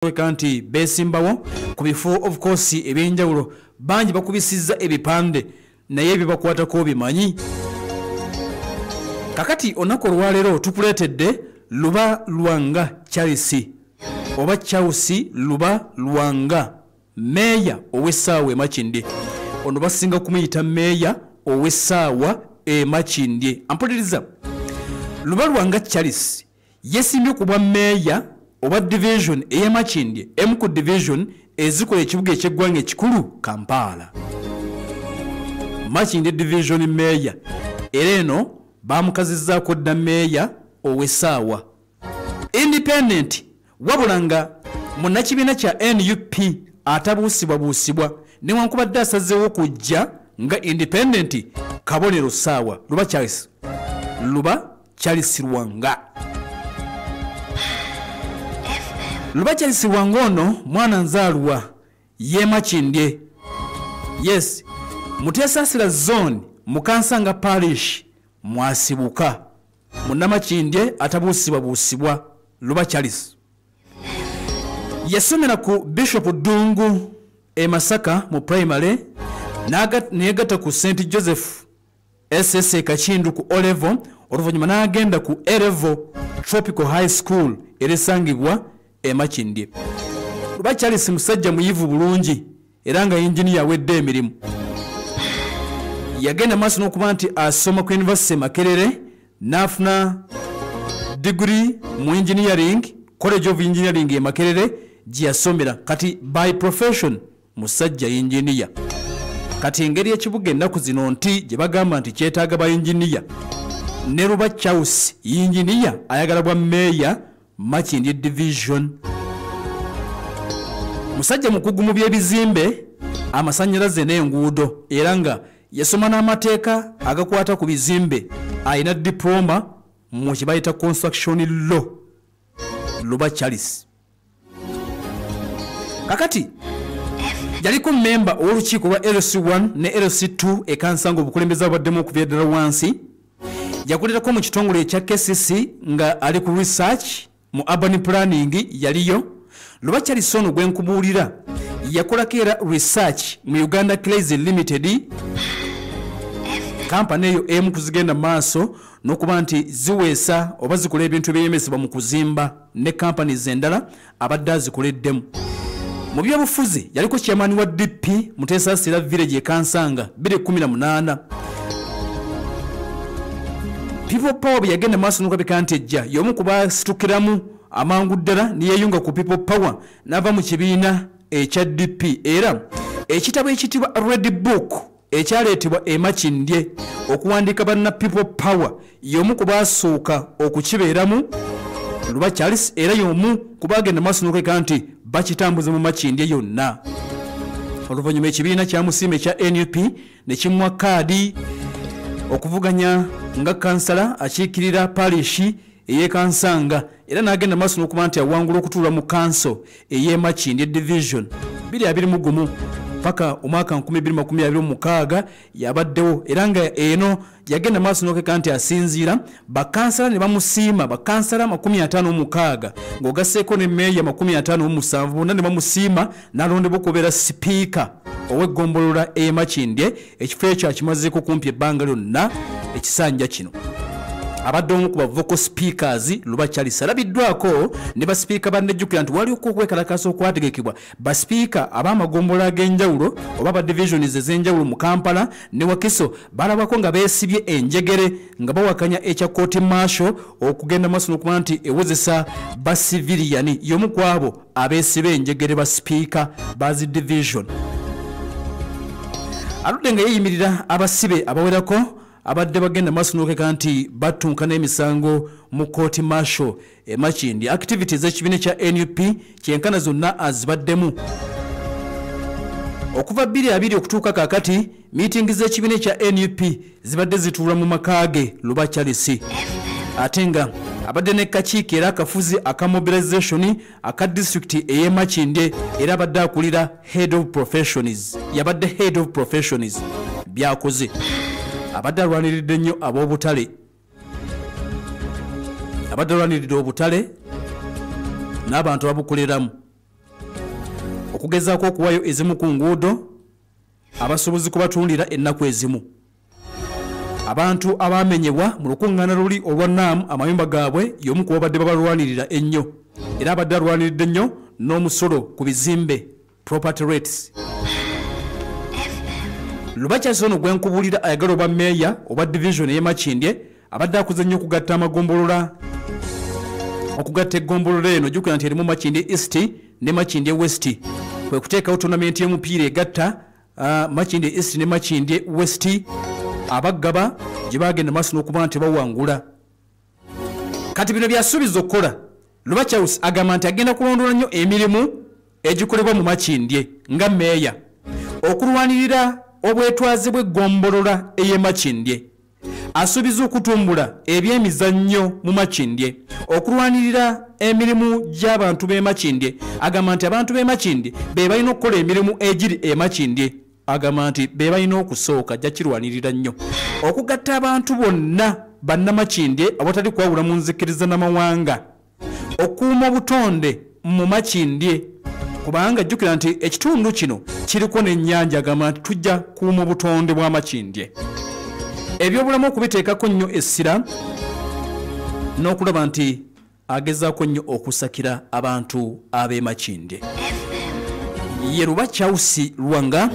bakweka nti beesimbawo ku bifo of course ebyenjawulo bangi bakubisizza ebipande naye ebibakwatako bimanyi kakati olunaku olwaleero tukuleetedde luba lwanga charles oba charles luba lwanga meeya ow'essaawa emakindye ono basinga kumuyita meeya ow'essaawa emakindye ampuliriza luba lwanga charles Yesimbye ku bwa meeya obwa division ey'e Makindye emu ku division ezikola ekibuga eky'eggwanga ekikulu Kampala. Makindye division meeya era eno baamukazizzaako dda meeya ow'essaawa. Independent wabula nga munnakibiina kya nup atabuusibwabuusibwa newankubadde asazeewo kujja nga independenti kabonero saawa luba charles luba charles lwanga luba charles lwanga ono mwana nzaalwa yemakindye yes muteesasira zone mukansanga parish mwasibuka munnamakindye atabuusibwabuusibwa luba charles yasomera ku bishop ddungu e masaka mu primary neyegatta ku st joseph ss e kakindu ku olevo oluvannyuma n'agenda ku erevo tropical high school erisangibwa e makindye luba charles musajja muyivu bulungi era nga yinginiya awedde emirimu yagenda maaso n'okuba nti asoma ku yunivasite e makerere n'afuna digiri mu engineering college of engineering e makerere gye yasomera kati by profession musajja yinginiya kati engeri ekibuga ennaku zino nti gye bagamba nti kyetaaga ba yinginiya ne ruba charles yinginiya ayagala bwa meeya makindi division musajja mukugu mu by'ebizimbe amasannyalaze n'enguudo era nga yasoma n'amateeka agakwata ku bizimbe alina diploma mu kye bayita construction law luba charles kakati yaliko mmemba ow'olukiiko lwa lc1 ne lc2 ekansa nga obukulembeze abaddemu okuva eddala wansi yakolerako mu kitongole ekya kcc nga ali ku research mu urban planning yaliyo luba kyalisa ono gwe nkubuulira yakolako era research mu uganda clays limited kampani eyo emu kuzigenda maaso n'okuba nti ziweesa oba zikola ebintu ebyeyemesebwa mu kuzimba ne kampani zendala abadde azikoleddemu mu byobufuzi yaliko chairman wa dp muteesa sira village ekansanga 218 people power bwe yagenda maaso nokabika nti ejja y'omu ku basitukiramu amangu ddala neyeyunga ku people power n'ava mu kibiina ekya dp era ekitabo ekitibwa red book ekyaleetebwa e makindye okuwandiika banna people power y'omu ku baasooka okukibeeramu luba charles era y'omu ku baagenda maaso n'okweka nti bakitambuza mu makindye yonna oluvannyuma ekibiina kyamusiima ekya nup ne kimuwa kaadi okuvuganya nga kansala akiikirira parishi ey'e Kansanga era n'agenda mu maaso n'okuba nti awangula okutuula mu kanso ey'e Makindye Division 221 paka omwaka 2026 yabaddewo era nga eno yagenda maaso n'okeka nti asinziira bakansala ne bamusiima bakansala 56 ng'ogasseeko ne meeya 57 bonna ne bamusiima n'alondebwa okubeera sipiika ow'eggombolola ey'e Makindye ekifo ekyo akimazeeko kumpi ebbanga lyonna ekisanja kino abadde omu ku bavoko speakers luba charles alabiddwako ne basipiika bannejjukira nti waliwo okwekalakaasa okwategekebwa basipiika ab'amagombola ag'enjawulo oba ba divisions ez'enjawulo mu kampala ne wakiso balabako nga beesibye enjegere nga bawakanya ekya kooti marsho okugenda maaso n'okuba nti ewozesa basiviliyani y'omu kwabo abeesiba enjegere ba sipiika bazi division aludde nga yeeyimirira abasibe abawerako abadde bagenda maaso n'okeka nti battunka n'emisango mu kooti marshal emakindi activity z'ekibiina kya nup kyenkana zonna azibaddemu okuva 22 okutuuka kakati miitingi z'ekibiina ekya nup zibadde zituula mu maka ge luba charles ate nga abadde ne kakiiko era akafuzi aka mobilization aka disitulikiti ey'e makindye era abadde akulira head of professions yabadde head of professions byakoze abadde alwaniridde nnyo ab'obutale abadde alwaniridde obutale n'abantu ababukuliramu okugezaako okuwayo ezimu ku nguudo abasuubuzi kubatundira ennaku ezimu abantu abaamenyebwa mu lukuŋŋaana luli olwa naamu amayumba gaabwe y'omu ku babadde babalwanirira ennyo era abadde alwaniridde nnyo n'omusolo ku bizimbe property rates lubakyasi ono gwe nkubuulira ayagala oba meeya oba divisioni ey'e makindye abadde akuze nnyo okugatta amagombolola okugatta eggombolola eno jukira nti erimu makindye east ne makindye west kwe kuteekawo tonamenti y'omupiira egatta ah, makindye east ne makindye west abaggaba gye bagenda maaso n'okuba nti bawangula kati bino byasuubiza okukola lubachous agamba nti agenda kulondoola nnyo emirimu egikolebwa mu makindye nga meeya okulwanirira obwetwaze bw'eggombolola ey'emakindye asuubiza okutumbula ebyemizannyo mu makindye okulwanirira emirimu gy'abantu b'emakindye agamba nti abantu b'emakindye be balina okukola emirimu egiri emakindye agamba nti be balina okusooka ajja kirwanirira nnyo okugatta abantu bonna bannamakindye awatali kwawula mu nzikiriza n'amawanga okuuma obutonde mu makindye kubanga jjukira nti ekitundu kino kiriko n'ennyanja agamba nti tujja kuuma obutonde bwa makindye ebyobulamu okubiteekako nnyo essira n'okulaba nti agezaako nnyo okusakira abantu ab'emakindye ye luba chausi lwanga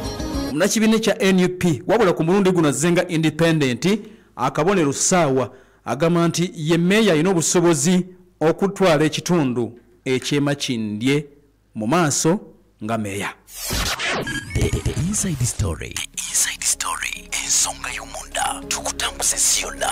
munakibiina ekya nup wabula ku mulundi guno azzenga independenti akabonero ssaawa agamba nti ye meeya alina obusobozi okutwala ekitundu ekyemakindye mu maaso nga meeya ensonga y'omunda tukutambuza ensi yonna